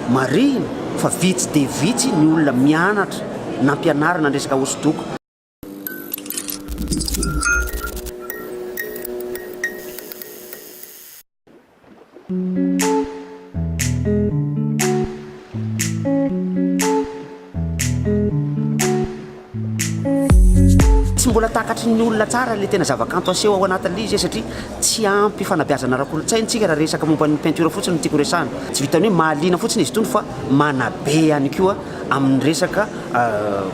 Marihina fa vitsy dia vitsy ny olona mianatra nampianarina ny resaka hosodoko. Tsy mbola takatry ny olona tsara ilay tena zavakanto aseho ao anatin'ilay izy e, satria tsy ampy fanabeazana ara-kolontsaina isika raha resaka momba ny peinture fotsiny no tiako resahana. Tsy vitan'ny hoe mahaliana fotsiny izy itony fa manabe ihany koa amin'ny resaka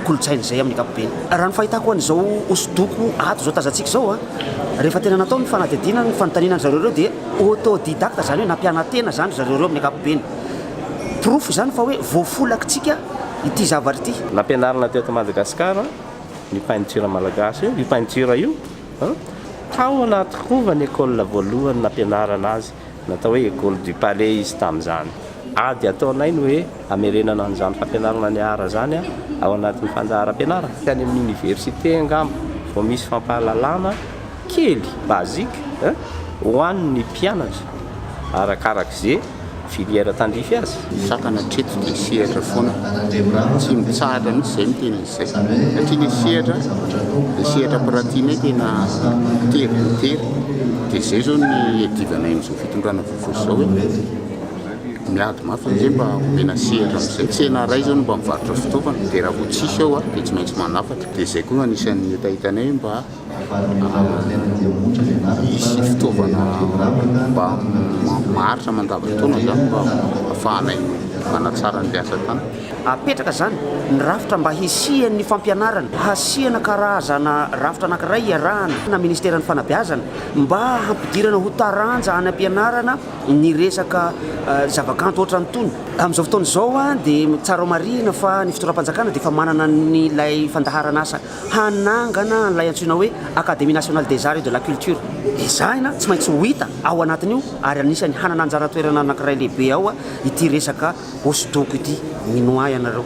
kolontsaina izay amin'ny ankapobeny. Raha ny fahitako an'izao hosodoko ato izao tazantsika izao a, rehefa tena natao ny fanadihadiana, ny fanontaniana an-dry zareo ireo dia autodidacte, izany hoe nampiana-tena izany ry zareo ireo amin'ny ankapobeny. Porofo izany fa hoe voafolakitsika ity zavatra ity. Nampianarina teto Madagasikara ny peinture malagasy io, io peinture io an, tao anaty rova ny école voalohany nampianarana azy, natao hoe école du palais izy tamin'izany. Ady ataonay ny hoe hamerenana an'izany fampianarana ny art izany an, ao anatin'ny fandaharam-pianarana. Any amin'ny université angamba vao misy fampahalalana kely, basique, an, ho an'ny mpianatra, arakaraka izay. filière tandrify azy. Sakana hatreto dia sehatra foana, tsy mitsahatra mihitsy izay miteny an'izay satria ilay sehatra dia sehatra mpiratianay tena tery dia tery dia izay izao ny iadivanay amin'izao fitondrana vaovao izao hoe miady mafy amin'izay mba homena sehatra amin'izay tsena iray izao no mba mivarotra fitaovana dia raha vao tsisy ao dia tsy maintsy manafatra dia izay koa no anisan'ny hetahetanay hoe mba Hisy fitaovana mba maharitra mandavan-taona izany mba hafahanay manatsara ny asa tany. Hapetraka izany ny rafitra mba hisian'ny fampianarana, hasiana karazana rafitra anankiray iarahana na ministeran'ny fanabeazana mba hampidirana ho taranja any am-pianarana ny resaka zavakanto ohatran'itony. Amin'izao fotoana izao dia tsara ho marihina fa ny fitondram-panjakana dia efa manana an'ilay fandaharan'asa. hanangana an'ilay antsoina hoe Académie Nationale des Arts et de la Culture. Ezahina tsy maintsy ho hita ao anatin'io ary anisan'ny hanana anjara toerana anankiray lehibe ao ity resaka hosodoko ity. Mino ahy ianareo.